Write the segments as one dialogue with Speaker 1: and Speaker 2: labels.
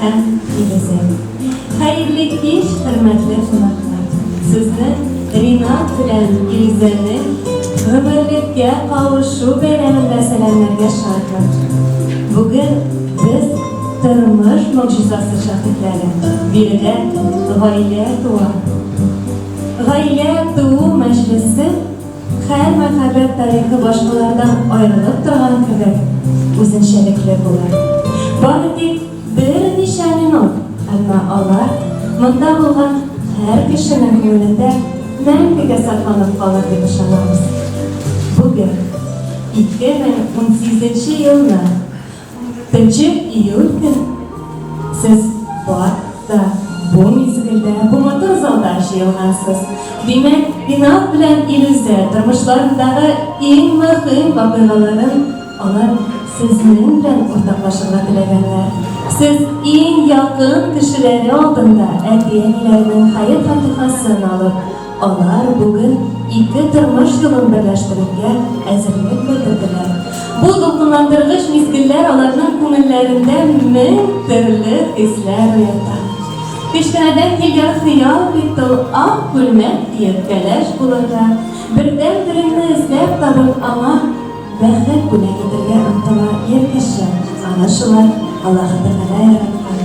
Speaker 1: һәм тигезен. Хәерле кич, хөрмәтле кунаклар! Сезне Ринат белән Илзәнең гомерлеккә кавышу бәйрәмендә сәламләргә шатмын. Бүген без тормыш могҗизасы шаһитләре. Биредә гаилә туа. Гаилә туу мәҗлесе Һәр мәхәббәт тарихы башкалардан аерылып торган кебек үзенчәлекле була. Бары тик берничә минут, әмма алар монда булган һәр кешенең күңелендә мәңгегә сакланып калыр дип ышанабыз. Бүген, 2018 нче елны Нче июль көн сез бар да бу мизгелдә, бу матур залда җыелгансыз. Димәк, Пинат белән Илүзә тормышларындагы иң мөһим вакыйгаларын алар сезнең белән уртаклашырга теләгәннәр. Сез иң якын кешеләре алдында әти-әниләренең хәер-фатихасын алып, Алар бүген ике тормыш юлын берләштерергә әзерлек белдерделәр. Бу дулкынландыргыч мизгелләр аларның күңелләрендә мең төрле хисләр уята. Кечкенәдән килгән хыял бит ул ак күлмәк киеп, кәләш булырга, бердән-береңне эзләп табып, аңа Бәхет бүләк итәргә омтыла ир кеше, аны шулай Аллаһы Тәгалә яраткан.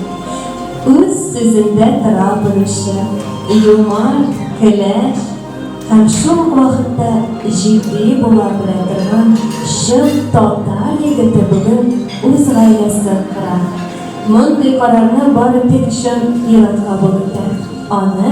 Speaker 1: Үз сүзендә тора белүче, юмарт, көләч һәм шул ук вакытта җитди була белә торган чын татар егете бүген үз гаиләсен кора. Мондый карарны бары тик чын ир-атка булып итә. Аны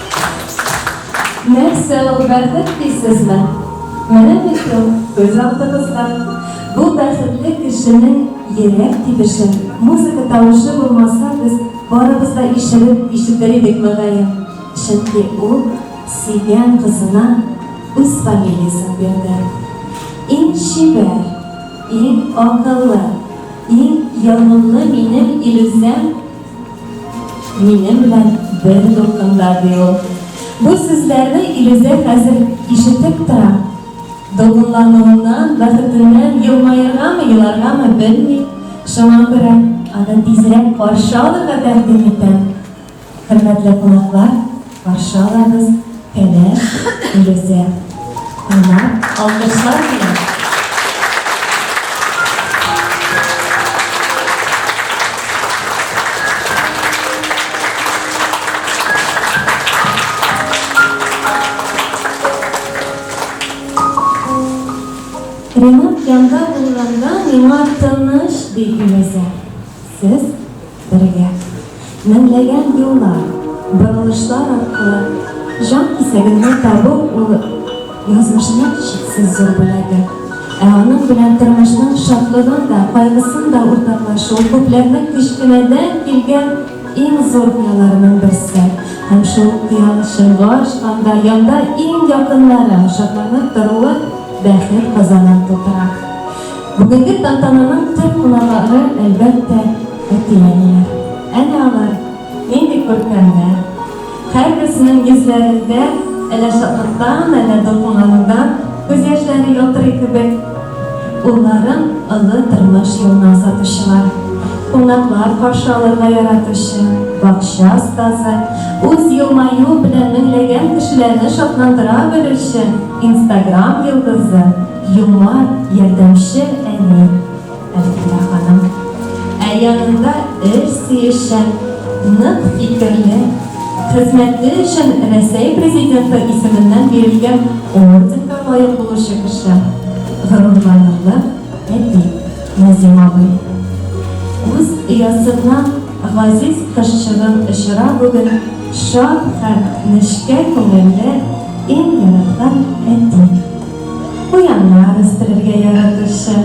Speaker 1: Нәрсә ул бәхет дисезме? Менә бит ул, күз алдыгызда. Бу бәхетле кешенең йөрәк тибеше. Музыка тавышы булмаса, без барыбыз да ишелеп ишетер идек, мөгаен. Чөнки ул сөйгән кызына үз фамилиясен бирде. Иң чибәр, иң акыллы, иң ягымлы минем Илүсәм! Минем белән бер дулкында, ди ул. Бу сүзләрне Илүзә хәзер ишетеп тора. Дулкынлануыннан, бәхетеннән елмаергамы, еларгамы белми, шуңа күрә аны тизрәк каршы алырга тәкъдим итә. Хөрмәтле кунаклар! Каршы алабыз Фәнәс Фирүзә аңа алкышлар белән. Ремонт янда булганда миңа тыныч, ди Фирүзә. Сез Бергә. Меңләгән юллар, борылышлар аркылы Җан кисәгеңне табу ул язмышның чиксез зур бүләге. Ә аның белән тормышның шатлыгын да, кайгысын да уртаклашу күпләрнең кечкенәдән килгән иң зур хыялларының берсе. Һәм шул хыял чынга ашканда, янда иң якыннары шатланып торуы бәхет казанын тутыра. Бүгенге тантананың төп кунагары, әлбәттә, әти-әниләр. Әнә алар, нинди күркәмнәр! Һәрберсенең йөзләрендә әллә шатлыктан, әллә дулкынланудан күз яшьләре ялтырый кебек. Улларын олы тормыш юлына озатучылар, кунаклар каршы алырга яратучы бакча остазы, үз елмаюы белән меңләгән кешеләрне шатландыра белүче Инстаграм йолдызы. Еллар ярдәмче әни Әлфинә ханым. Ә янында эш сөючән, нык фикерле, хезмәте өчен Рәсәй Президенты исеменнән бирелгән орденга лаек булучы кеше, горурланырлык әти Назим абый. Үз оясыннан газиз кызчыгын очыра бүген шат һәм нечкә күңелле, иң яраткан әти. Куяннар үстерергә яратучы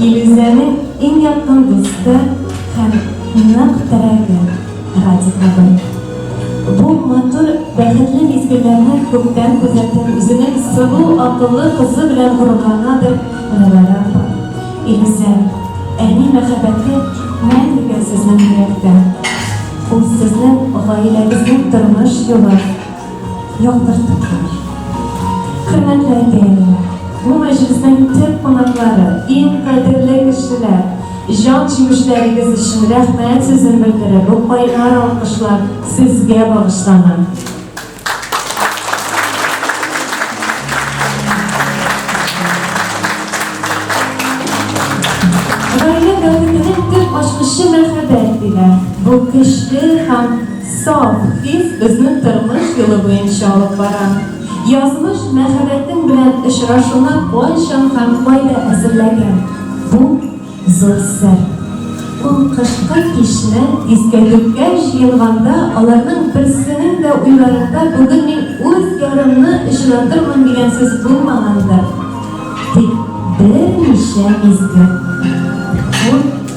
Speaker 1: Илүзәнең иң якын дусты һәм нык терәге Радик абый. Бу матур, бәхетле мизгелләрне күптән күзәтеп, үзенең сылу, акыллы кызы белән горурланадыр Рәвәрә апа. Илүзән, әни мәхәббәте мәңгегә сезнең йөрәктә. Ул сезнең гаиләгезнең тормыш юлы. Яктыртыклар. Хөрмәтле әтиәниләр, бу мәҗлеснең төп кунаклары, иң кадерле кешеләр, җан җимешләрегез өчен рәхмәт сүзен белдереп, бу кайнар алкышлар сезгә багышлана. Гаилә дәүләтенең төп ачкычы мәхәббәт диләр. Бу көчле һәм Саф хис безнең тормыш юлы буенча алып бара. Язмыш мәхәббәтең белән очрашуны кайчан һәм кайда әзерләгән? Бу, зур сер. Ул кышкы кичне искә төпкә җыенганда аларның берсенең дә уйларында бүген мин үз ярымны очратырмын дигән сүз булмагандыр. Тик берничә мизгел. Ул.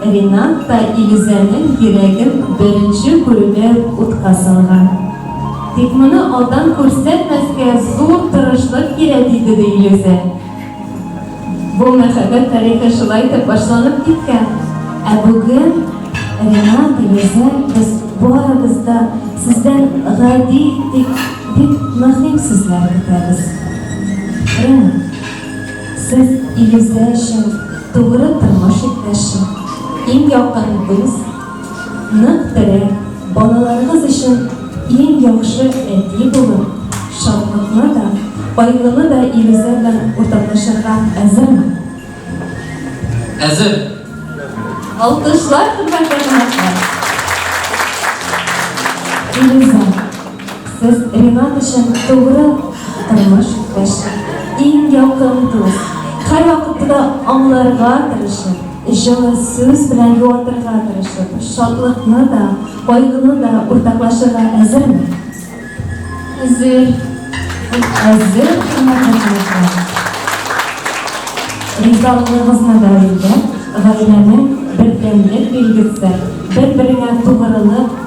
Speaker 1: Ринат та Илүзәнең йөрәген беренче күрүдә үк утка салган. Тик моны алдан күрсәтмәскә зур тырышлык кирәк иде, ди Илүзә. Бу мәхәббәт тарихы шулай итеп башланып киткән. Ә бүген Ринат, Илүзә, без барыбыз да сездән гади, тик бик мөһим сүзләр көтәбез. Ринат. Сез, Илүзә өчен тугры тормыш иптәше, иң якын дус, нык терәк, балаларыгыз өчен иң яхшы әти булып, шатлыкны да, кайгыны да Илүзә белән уртаклашырга әзерме? Әзер! Алкышлар, хөрмәтле кунаклар! Илүзә. Сез Ринат өчен тугры тормыш иптәш, иң якын дус. Һәрвакытта да аңларга тырышып, җылы сүз белән юатырга тырышып, шатлыкны да, кайгыны да уртаклашырга әзерме? Әзер. Әзер хөрмәтле кунаклар. Ризалыгыгызны да белдереп, гаиләнең бердәмлек билгесе, бер-береңә тугрылык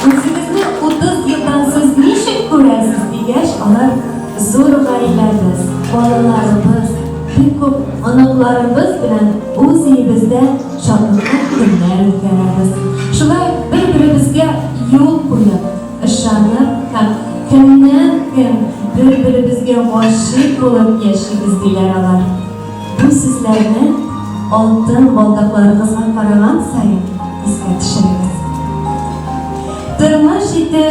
Speaker 1: Үзегезне 30 елдан сез ничек күрәсез дигәч, алар зур гаиләбез, балаларыбыз, бик күп оныкларыбыз белән үз өебездә шатлыклы көннәр үткәрәбез. Шулай бер-беребезгә юл куеп, ышанып һәм көннән-көн бер-беребезгә гашыйк булып яшибез, диләр алар. Бу сүзләрне алтын балдакларыгызга караган саен искә төшерегез. Тормыш итү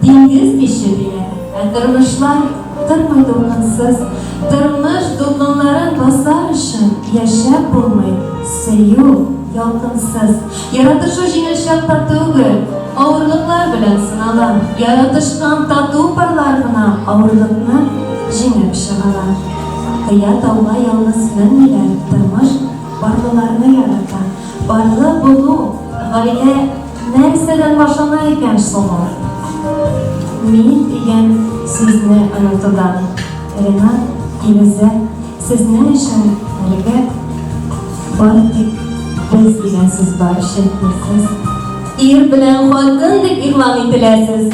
Speaker 1: диңгез бише диләр, ә тормышлар тормый дулкынсыз. Тормыш дулкынларын басар өчен яшәп булмый, сөю ялкынсыз. Яратышу җиңел чакта түгел, авырлыклар белән сынала. Яратышкан тату парлар гына авырлыкны җиңеп чыгалар. Кыя тауга ялгыз менмиләр, тормыш барлыларны ярата. Барлы булу, гаилә нәрсәдән башлана икән соң ул? Мин дигән сүзне онытудан. Ренат, Илүзә, сезнең өчен әлегә бары тик без дигән сүз бар, чөнки сез ир белән хатын дип игълан ителәсез.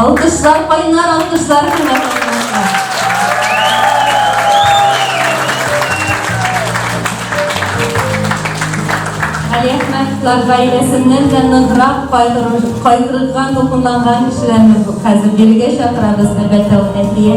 Speaker 1: Алкышлар кайнар, алкышлар кайнар. Әхмәтләр гаиләсеннән дә ныграк кайгырган, дулкынланган кешеләрне хәзер бирегә чакырабыз, әлбәттә, ул Әфия